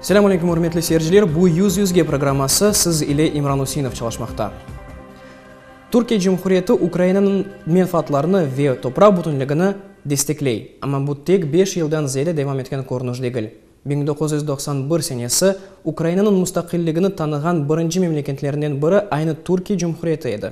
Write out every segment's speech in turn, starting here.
Selâm aleyküm, ürmetli seyirciler! Bu Yüz yüzge programması, siz ile İmran Üseinov çalışmaqta. Türkiye Cumhuriyeti Ukrainanıñ menfaatlarını ve topraq bütünligini destekley, amma bu tek beş yıldan ziyade devam etken körünüş degil. Biñ doquz yüz doqsan bir senesi Ukrainanıñ mustaqilligini tanığan birinci memleketlerinden biri aynı Türkiye Cumhuriyeti edi.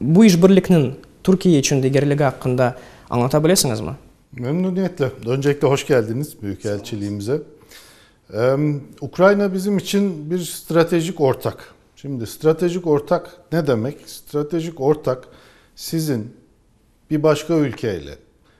Bu işbirlikniñ Türkiye içün degerligi aqqında añlata bilesiñizmi? Memnuniyetle. Öncekle hoş geldiniz Büyükelçiliğimize. Ukrayina bizim içün bir stratejik ortak. Şimdi stratejik ortak ne demek? Stratejik ortak sizin bir başka ülke ile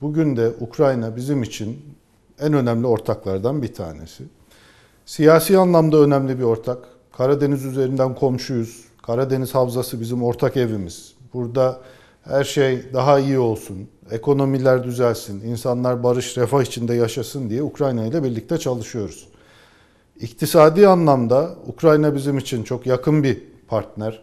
Bugün de Ukrayina bizim içün eñ önemli ortaqlardan bir tanesi. Siyasiy anlamda önemli bir ortaq. Karadeniz üzerinden qomşuyız. Karadeniz havzası bizim ortaq evimiz. Burada er şey daha iyi olsun, ekonomiler düzelsin, insanlar barış, refah içinde yaşasın diye Ukrayina ile birlikte çalışıyoruz. İqtisadiy anlamda Ukrayina bizim içün çoq yaqın bir partner.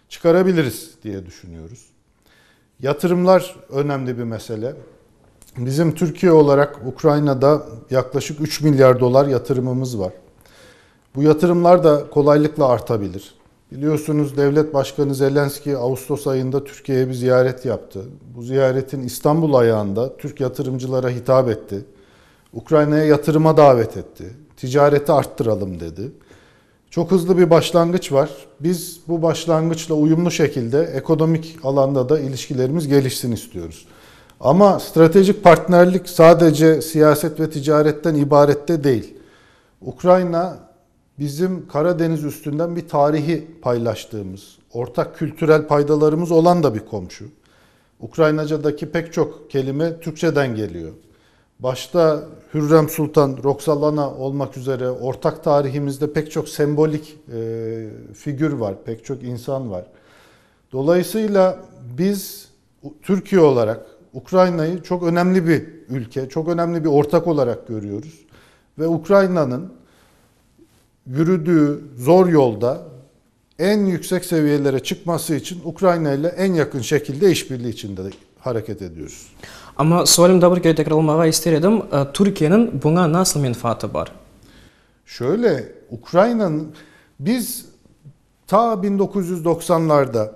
Çıqarabiliriz diye düşünüyoruz. Yatırımlar önemli bir mesele. Bizim Türkiye olaraq Ukrainada yaqlaşıq üç milyar dollar yatırımımız var. Bu yatırımlar da qolaylıqla artabilir. Biliyorsunuz, devlet başqanı Zelenskıy Ağustos ayında Türkiyeye bir ziyaret yaptı. Bu ziyaretin İstanbul ayağında Türk yatırımcılara hitap etti. Ukrainaya yatırıma davet etti. Ticareti arttıralım dedi. Çoq hızlı bir başlanğıç var. Biz bu başlanğıçla uyumlu şekilde ekonomik alanda da ilişkilerimiz gelişsin istiyoruz. Amma stratejik partnerlik sadece siyaset ve ticaretten ibaret de değil. Ukrayina, bizim Qara deñiz üstünden bir tarihi paylaştığımız, ortak kültürel paydalarımız olan da bir qomşu. Ukrainacadaki pek çoq kelime türkçeden keliyor. Başta Hürrem Sultan, Roxalana olmak üzere ortaq tarihimizde pek çoq sembolik figür var, pek çoq insan var. Dolayısıyla biz Türkiye olarak Ukrainayı çoq önemli bir ülke, çoq önemli bir ortaq olarak körüyoruz. Ve Ukrainanıñ yürüdüğü zor yolda eñ yüksek seviyelere çıqması içün Ukrayina ile eñ yaqın şekilde işbirliği içinde hareket ediyoruz. Amma sualim daa bir kere tekrarlamağa ister edim, Türkiyeniñ buña nasıl menfaatı bar? Şöyle, Ukrayinanıñ, biz ta bin dokuz yüz doqsanlarda,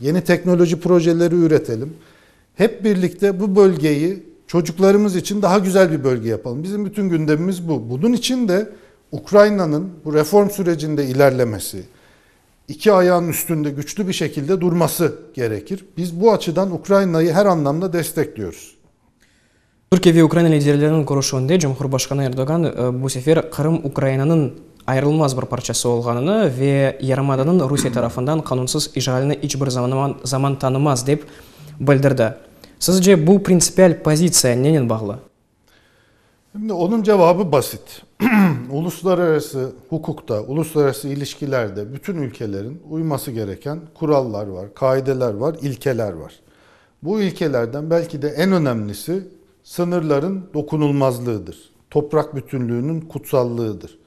Yeni teknoloji projeleri üretelim. Hep birlikte bu bölgeyi çocuqlarımız içün daha güzel bir bölge yapalım. Bizim bütün gündemimiz bu. Bunun içün de Ukraynanıñ bu reform sürecinde ilârlemesi, iki ayağınıñ üstünde küçlü bir şekilde durması gerekir. Biz bu açıdan Ukraynayı her anlamda destekliyoruz. Türkiye ve Ukraina liderleriniñ körüşüvinde cumhurbaşqanı Erdoğan bu sefer Qırım Ukrainanıñ ayırılmaz bir parçası olğanını ve yarımadanıñ Rusiye tarafından qanunsız işğalini iç bir zaman tanımaz, dep bildirdi. Sizce, bu printsipial pozitsiya nenen bağlı? Onıñ cevabı basit. Uluslararası huquqta, uluslararası ilişkilerde bütün ülkeleriñ uyması gereken qurallar var, qaideler var, ilkeler var. Bu ilkelerden belki de eñ önemlisi, sıñırlarıñ dokunulmazlığıdır, topraq bütünlüğüniñ qutsallığıdır.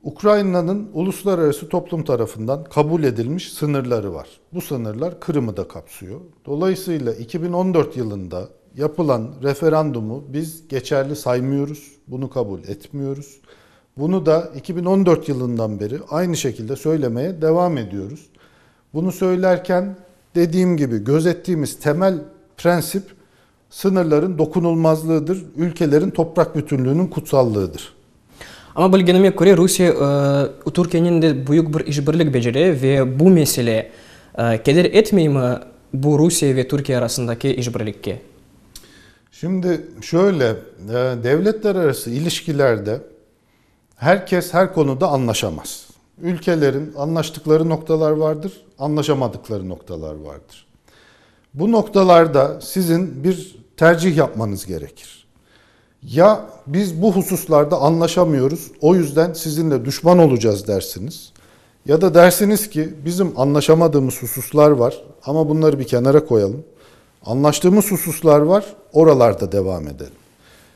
Ukrainanıñ uluslararası toplum tarafından qabul edilmiş sıñırları var. Bu sıñırlar Qırımı da qapsıyor. Dolayısıyla eki biñ on dört yılında yapılan referandumı biz geçerli saymıyoruz, bunı qabul etmiyoruz. Bunı da eki biñ on dört yılından beri aynı şekilde söylemeye devam ediyoruz. Bunı söylerken, dediğim kibi, gözettiğimiz temel prensip sıñırların dokunulmazlığıdır, ülkelerin topraq bütünlüğiniñ kutsallığıdır. Amma bilgenime köre, Rusiye Türkiyenen de büyük bir işbirlik becere ve bu mesele keder etmeymi bu Rusiye ve Türkiye arasındaki işbirlikke? Şimdi şöyle, devletlerarası ilişkilerde, Her kes her konuda añlaşamaz. Ülkelerin añlaştıqları noqtalar vardır, añlaşamadıqları noqtalar vardır. Bu noqtalarda sizin bir tercih yapmanız gerekir. Ya biz bu hususlarda añlaşamıyoruz, o yüzden sizinle duşman olacağız dersiniz, ya da dersiniz ki, bizim añlaşamadığımız hususlar var, amma bunları bir kenara qoyalım, añlaştığımız hususlar var, oralarda devam edelim.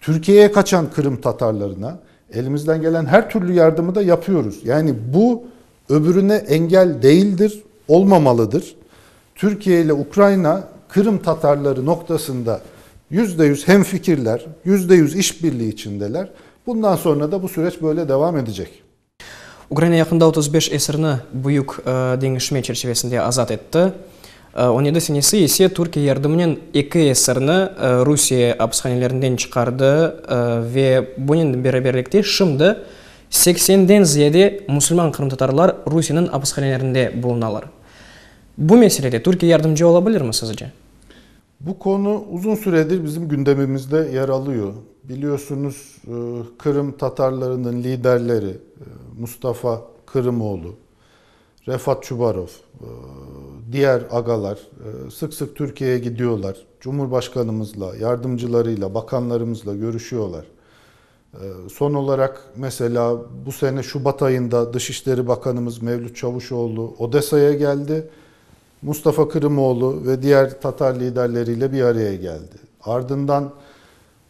Türkiye qaçan qırımtatarlarına elimizden gelen her türlü yardımı da yapıyoruz. Yani bu öbürüne engel değildir, olmamalıdır. Türkiye ile Ukrayina qırımtatarları noktasında yüzde yüz hemfikirler, yüzde yüz işbirliği içindeler. Bundan sonra da bu süreç böyle devam edecek. Ukraina yaqında otuz beş esirni büyük deñişme çerçivesinde azat etti, on yedi senesi ise Türkiye yardımınen eki esirni Rusiye apishanelerinden çıqardı ve bunen beraberlikte şimdi seksenden ziyade musulman qırımtatarlar Rusiyeniñ apishanelerinde bulunalar. Bu meselede Türkiye yardımcı ola bilirmi sizce? Bu konu uzun süredir bizim gündemimizde yer alıyor. Biliyorsunuz, Qırım Tatarlarınıñ liderleri Mustafa Qırımoğlu, Refat Çubarov, diğer ağalar sıq-sıq Türkiyeye gidiyorlar, Cumhurbaşqanımızla, yardımcılarıyla, bakanlarımızla görüşüyorlar. Son olaraq, mesela, bu sene şubat ayında Dış İşleri Bakanımız Mevlüt Çavuşoğlu Odesa'ya geldi, Mustafa Kırımoğlu ve diğer tatar liderleriyle bir araya geldi. Ardından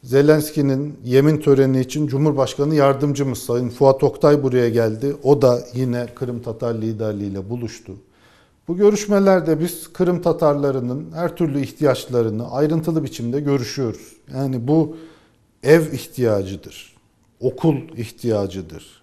Zelenskiyniñ yemin töreni içün Cumhurbaşkanı yardımcımız sayın Fuat Oktay buraya geldi. O da yine qırımtatar liderliğiyle buluştu. Bu körüşmelerde biz qırımtatarlarınıñ her türlü ihtiyaçlarını ayrıntılı biçimde körüşüyoruz. Yani bu ev ihtiyacıdır, okul ihtiyacıdır,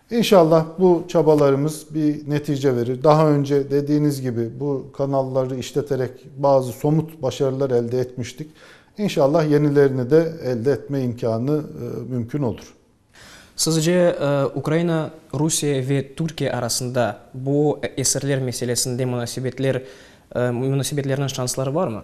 İnşallah bu çabalarımız bir netice verir. Daha önce dediğiniz gibi bu kanalları işleterek bazı somut başarılar elde etmiştik. İnşallah yenilerini de elde etme imkânı mümkün olur. Sizce Ukraina, Rusiye ve Türkiye arasında bu esirler meselesinde munasebetler, munasebetlerniñ şansları varmı?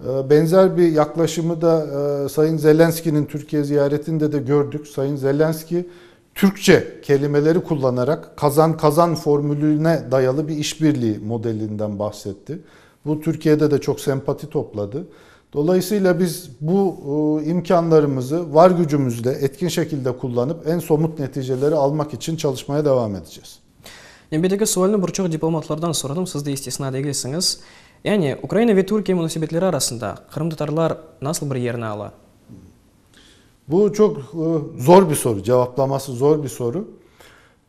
Benzer bir yaqlaşımı da sayın Zelenskiyniñ Türkiye ziyaretinde de kördik. Sayın Zelenskiy Türkçe kelimeleri kullanaraq kazan-kazan formülüne dayalı bir işbirliği modelinden bahsetti. Bu Türkiyede de çoq sempati topladı. Dolayısıyla biz bu imkânlarımızı var gücümüzle etkin şekilde kullanıp en somut neticeleri almaq içün çalışmaya devam edeceğiz. Men bir eki sualni bir çoq diplomatlardan soradım, siz de istisna degilsiñiz. Yani, Ukraina ve Türkiye munasebetleri arasında qırımtatarlar nasıl bir yerni ala? Bu çoq zor bir soru, cevaplaması zor bir soru.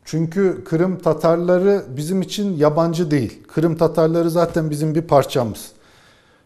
Çünkü qırımtatarları bizim içün yabancı değil. Qırımtatarları zaten bizim bir parçamız.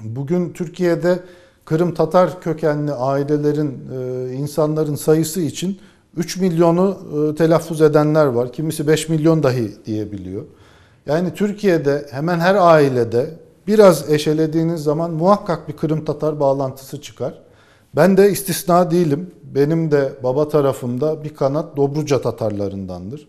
Bugün Türkiyede qırımtatar kökenli ailelerin, insanların sayısı içün üç milyonı telâffuz edenler var, kimisi beş milyon dahi diyebiliyor. Yani Türkiyede hemen her ailede biraz eşelediğiniz zaman muhakkak bir qırımtatar bağlantısı çıqar. Ben de istisna değilim, benim de baba tarafımda bir qanat Dobruca tatarlarındandır.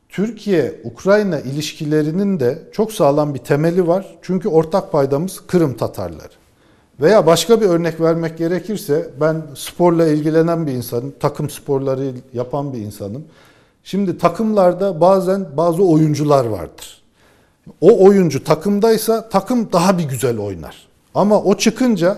Türkiye-Ukrayina ilişkileriniñ de çoq sağlam bir temeli var, çünki ortaq paydamız Qırım tatarları. Veya başqa bir örnek vermek gerekirse, ben sporla ilgilenen bir insanım, taqım sporları yapan bir insanım. Şimdi taqımlarda bazen bazı oyuncular vardır. O oyuncu taqımdaysa, taqım daha bir güzel oynar. Amma o çıqınca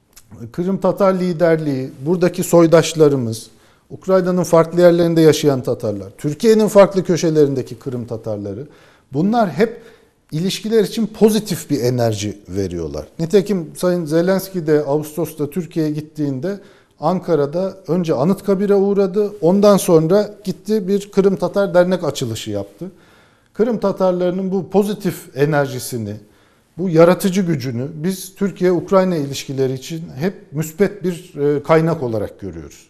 Qırımtatar liderliği, buradaki soydaşlarımız, Ukrainanıñ farqlı yerlerinde yaşayan tatarlar, Türkiyeniñ farqlı köşelerindeki Qırım tatarları, bunlar hep ilişkiler içün pozitif bir enerji veriyorlar. Nitekim Sayın Zelenskıy de Ağustosta Türkiyeye gittiğinde Ankara'da önce Anıtkabir'e uğradı, ondan sonra gitti bir Qırım Tatar Dernek açılışı yaptı. Qırım Tatarlarınıñ bu pozitif enerjisini, Bu yaratıcı gücüni biz Türkiye-Ukrayina ilişkileri içün hep müsbet bir qaynaq olaraq körüyoruz.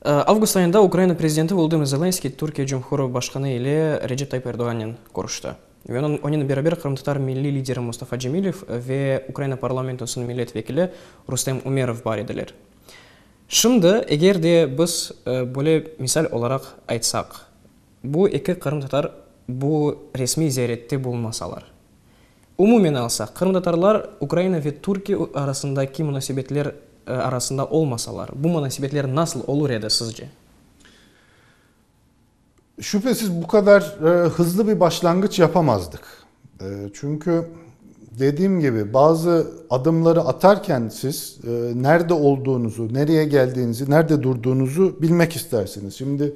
Avgust ayında Ukrayina prezidenti Volodımır Zelenskıy Türkiye Cumhuru Başqanı ile Recep Tayyip Erdoğannen körüşti ve onen beraber qırımtatar milliy lideri Mustafa Cemilev ve Ukrayina parlamentosınıñ millet vekili Rustem Umerov bar ediler. Şimdi eger de biz böyle misal olaraq aytsaq, Bu eki qırımtatar bu resmiy ziyarette bulunmasalar. Umumen alsaq, qırımtatarlar Ukraina ve Türkiye arasındaki munasebetler arasında olmasalar, bu munasebetler nasıl olur edi sizce? Şüphesiz bu kadar hızlı bir başlanğıç yapamazdıq. Çünkü dediğim kibi bazı adımları atarken siz nerde olduğunuzu, nereye geldiğinizi, nerde durduğunuzu bilmek istersiniz. Şimdi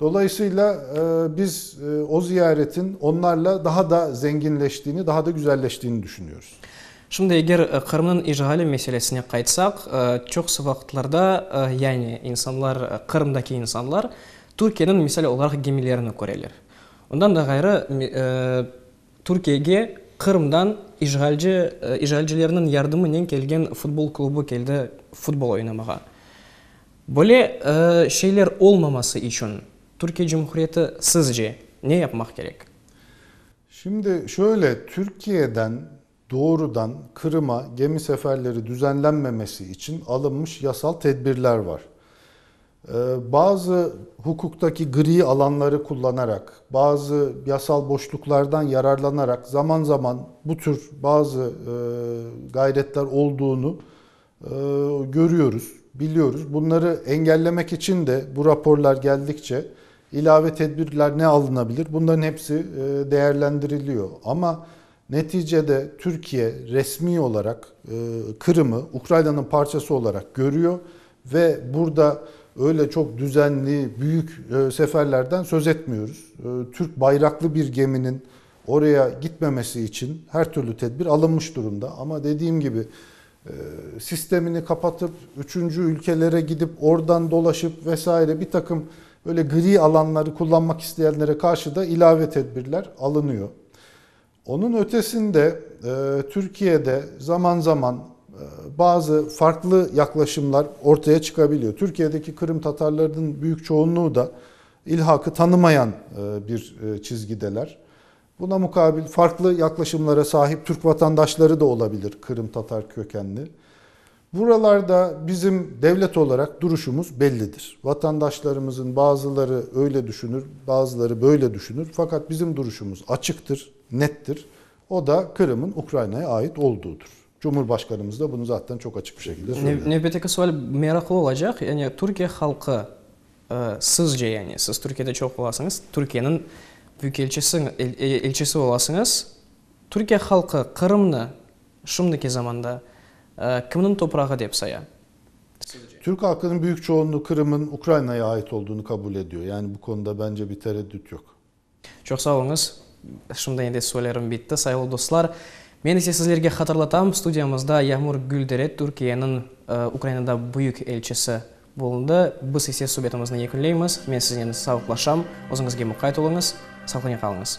Dolaysıyla biz o ziyaretin onlarla daha da zenginleştiğini, daha da güzelleştiğini düşünüyoruz. Şimdi eger Qırımnıñ işğali meselesine qaytsaq, çoqusı vaqıtlarda, yani insanlar, Qırımdaki insanlar Türkiyeniñ misal olaraq gemilerini köreler. Ondan da ğayrı, Türkiyege Qırımdan işğalci, işğalcilerniñ yardımınen kelgen futbol klubı keldi futbol oynamağa. Böyle şeyler olmaması içün Türkiye Cumhuriyeti sizce ne yapmaq kerek? Şimdi şöyle, Türkiye'den doğrudan Kırım'a gemi seferleri düzenlenmemesi içün alınmış yasal tedbirler var. Bazı hukuktaki gri alanları kullanarak, bazı yasal boşluklardan yararlanarak zaman zaman bu tür bazı gayretler olduğunu Körüyoruz, biliyoruz. Bunları engellemek içün de bu raporlar geldikçe ilave tedbirler ne alınabilir, bunların hepsi değerlendiriliyor. Amma neticede Türkiye resmiy olarak Kırım'ı Ukrayna'nıñ parçası olarak körüyor ve burada öyle çok düzenli, büyük seferlerden söz etmiyoruz. Türk bayraqlı bir geminiñ oraya gitmemesi içün her türlü tedbir alınmış durumda. Amma dediğim kibi, sistemini qapatıp, üçünci ülkelere gidip, oradan dolaşıp ve saire bir taqım böyle gri alanları qullanmaq isteyenlere qarşı da ilave tedbirler alınıyor. Onıñ ötesinde Türkiye'de zaman zaman bazı farqlı yaqlaşımlar ortaya çıqabiliyor. Türkiye'deki qırımtatarlarnıñ büyük çoğunluğu da ilhaqı tanımayan bir çizgideler. Buna muqabil, farqlı yaqlaşımlara sahip türk vatandaşları da ola bilir, qırımtatar kökenli. Buralarda bizim devlet olaraq duruşumız bellidir. Vatandaşlarımızın bazıları öyle düşünür, bazıları böyle düşünür, faqat bizim duruşumız açıqtır, nettir, o da Qırım'ın Ukrayna'ya ait olduğıdır. Cumhurbaşqanımız da bunı zattan çoq açıq bir şekilde söyledi. Nevbetteki sual meraqlı olacaq, yani Türkiye halqı, sizce, yani siz Türkiyede çoq olasıñız, Türkiyeniñ büyükelçisi, elçisi olasıñız, Türkiye halqı Qırımnı şimdiki zamanda kimniñ toprağı dep saya? Türk halqınıñ büyük çoğunluğı Qırım'ın Ukraina'ya ait olduğunu kabul ediyor, yani bu konuda bence bir tereddüt yoq. Çoq sağ oluñız. Şimdi endi soylerim bitti, sayılı dostlar. Men ise sizlerge hatırlatam, studiyamızda Yağmur Güldere Türkiyeniñ Ukrainada büyük elçisi bulundı. Biz ise subetimizni yekünleymiz. Men siznen sağlıqlaşam. Özüñizge muqayt oluñız. Saqlene qalıñız.